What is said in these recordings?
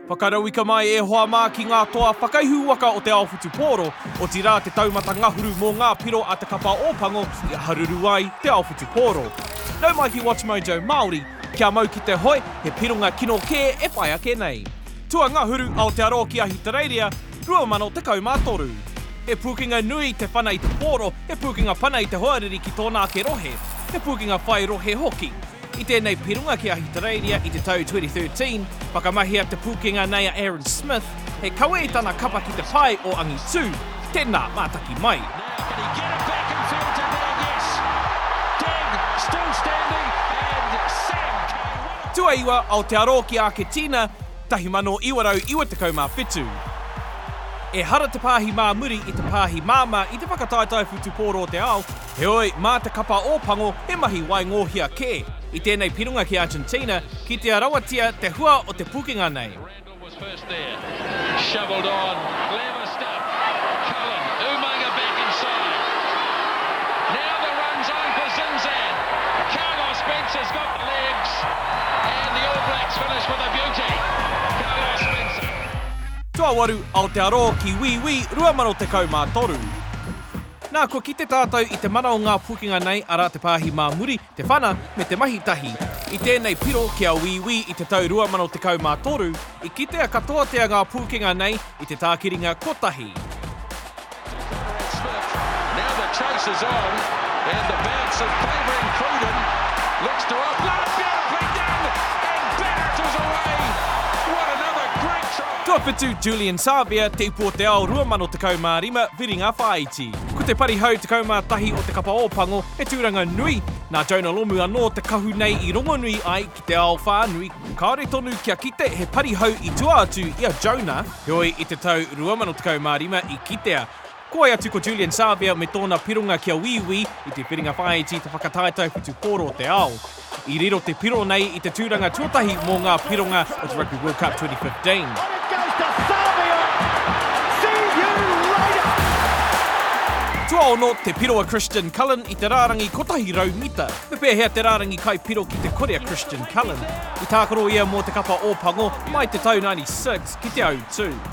Whakarauika mai e hoa mā ki ngā toa whakaihu waka o te ao whutupōro, otirā te taumata ngahuru mō ngā piro a Te Kapa o Pango i haruru ai te ao whutupōro. Nau mai ki WatchMojo Māori, kia mau ki te hoe, he pironga kino kē e whai ake nei. Tuangahuru, Aotearoa ki Ahitereiria, 2013. He pūkenga nui te whana i te pōro, he pūkenga pana i te hoariri ki tōna ake rohe. He pūkenga whai rohe hoki. I tēnei pironga ki Ahitereiria i te tau 2013, whakamahia te pūkenga nei a Aaron Smith, he kawe i tana kapa ki te pae o angitū, tēnā, mātaki mai. Tuaiwa, Aotearoa ki Āketīna, 1997. Ehara te pāhi mā muri i te pāhi māmā i te whakataetae whutupōro o te ao, Heoi, mā te kapa Ōpango he mahi waingōhia kē. I tēnei piringa ki Argentina, kitea rawatia te hua o te pukenga nei. Nā, kua kite tātou i te mana o ngā pūkenga nei, arā te pāhi mā muri, te whana, me te mahi tahi. I tēnei piro ki a Wīwī i te tau 2013, i kitea katoatia ngā pūkenga nei i te tākiringa kotahi. Tuawhitu, Julian Savea, Te Upo o te Ao 2015, Whiringa Whāiti. Ko te pari hau 11 o Te Kapa o Pango he tūranga nui, nā Jonah Lomu anō te kahu nei i rongonui ai ki te ao whānui. Kāore tonu kia kite he pari hau i tua atu i a Jonah, heoi i te tau 2015 i kitea, Ko wai atu ko Julian Savea me tōna pironga kia Wīwī i te whiringa whāiti i te whakataetae whutupōro o te ao. I riro te piro nei i te tūranga tuatahi mō ngā pironga o te Rugby World Cup 2015. Tuaono te piro a Christian Cullen i te rārangi 100 mita. Me pēhea te rārangi kai piro ki te kore a Christian Cullen? I tākaro ia mō te kapa Ōpango mai te tau 96 ki te Autū.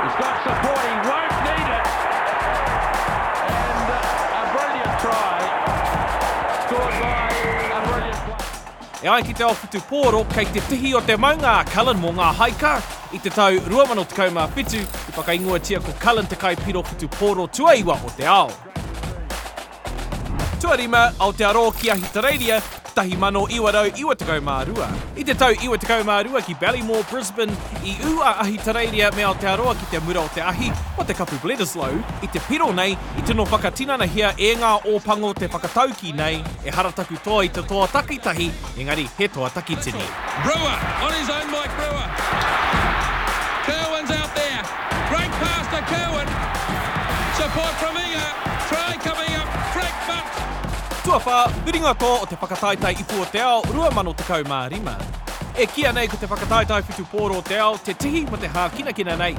He's got support, he won't need it. And uh, a brilliant try, scored by a brilliant player. E ai ki te ao whutupōro, kei te tihi o te maunga a Cullen mō ngā haika. I te tau 2017, i whakaingoatia ko Cullen te kai piro whutupōro tuaiwa o te ao. Tuarima, Aotearoa ki Ahitereiria, 1992. I te tau 92 ki Ballymore, Brisbane, i ū a Ahitereiria me Aotearoa ki te mura o te ahi, o te kapu Bledisloe, i te piro nei, i tino whakatinanahia e ngā Ōpango te whakataukī nei, ehara taku toa i te toa takitahi, engari he toa takitini. Brewer on his own Mike Brewer. Kirwan's out there. Great pass to Kirwan. Support from Inga. Try coming up. Frank Bunce. Tuawhā, Whiringatō o te Whakataetae Ipu o te Ao 2015. E kīia nei ko te Whakataetae Whutupōro o te Ao te tihi mō te hākinakina nei.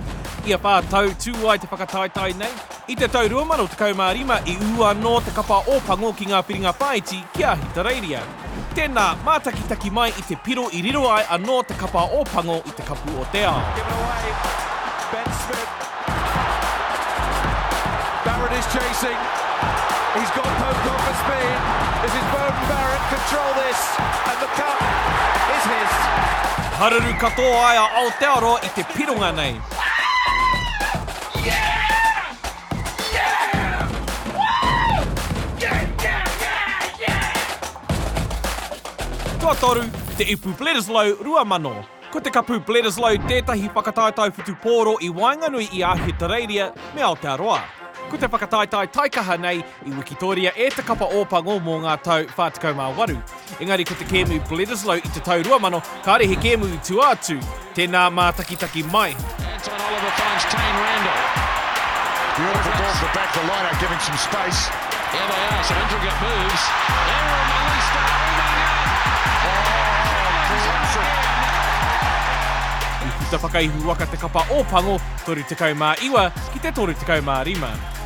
Ia whā tau tū ai te whakataetae nei. I te tau 2015 i ū anō te kapa Ōpango ki ngā whiringa whāiti ki Ahitereiria. Tēnā, mātakitaki mai i te piro i riro ai anō te kapa o Pango i te Kapu o te Ao. Given away, Ben Smith. Barrett is chasing. He's got Pocock for speed. This is Beauden Barrett, control this, and the cup is his. Haruru katoa ai a Aotearoa i te pironga nei. Tuatoru, te ipu Bledisloe 2000. Ko te kapu Bledisloe tētahi whakataetae whutupōro i waenganui i a Ahitereiria me Aotearoa. Ko te whakataetae taikaha nei I wikitoria e Te Kapa Ōpango mō ngā tau 48, engari ko te kēmu Bledisloe i te tau 2000, kāre he kēmu i tua atu, tēnā mātakitaki mai. Anton Oliver finds Taine Randell. Beautiful ball to the back of the line out, giving some space. Here they are, some intricate moves. Errol Melista holding up. Oh, classic. I puta whakaihu waka te kapa Ōpango, 39 ki te 35.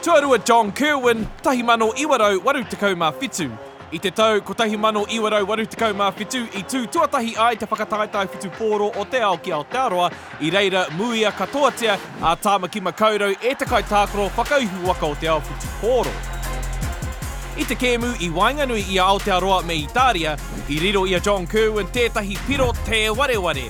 Tuarua John Kirwan, 1987. I te tau 1987 i tū tuatahi ai te whakataetae whutupōro o te ao ki Aotearoa, i reira muia katoatia a Tāmaki Makaurau e te kaitākaro whakaihu waka o te ao whutupōro. I te kēmu i waenganui i a Aotearoa me Itāria, i riro i a John Kirwan tētahi piro tē wareware,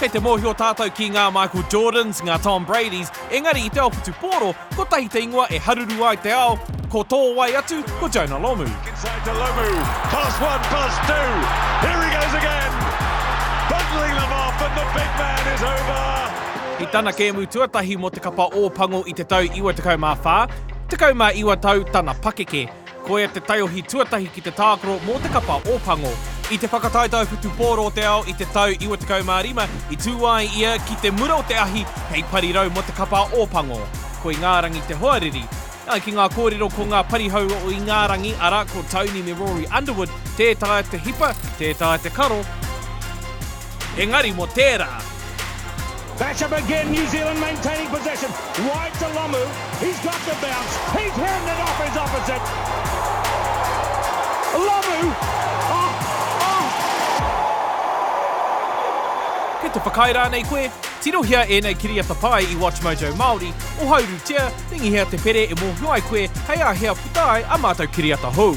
Kei te mōhio tātou ki ngā Michael Jordans, ngā Tom Bradys, engari i te ao whutupōro, kotahi te ingoa e haruru ai te ao, ko tō wai atu ko Jonah Lomu. Inside to Lomu, pass one, pass two, here he goes again, bundling them off and the big man is over! I tana kēmu tuatahi mō te kapa Ōpango i te tau 94, 19 tau tana pakeke. Koia te taiohi tuatahi ki te tākaro mō te kapa o Pango. I te whakataetae whutupōro o te ao i te tau 95, i tū ai ia ki te mura o te ahi hei parirau mō te kapa o Pango. Ko Ingārangi te hoariri. Ā, ki ngā kōrero ko ngā parihau o Ingārangi, arā, ko Tony me Rory Underwood, tē taea te hipa, tē taea te karo, engari mo tera. Back up again New Zealand maintaining possession wide to Lomu, he's got the bounce, he's heading it off his opposite. Lomu! Oh! Oh! Kei te whakaae rānei koe? Tirohia ēnei kiriata pai i WatchMojo Māori, ohauru tia, ringihia te pere e mōhio ai koe hei āhea. Puta ai a mātou kiriata hou.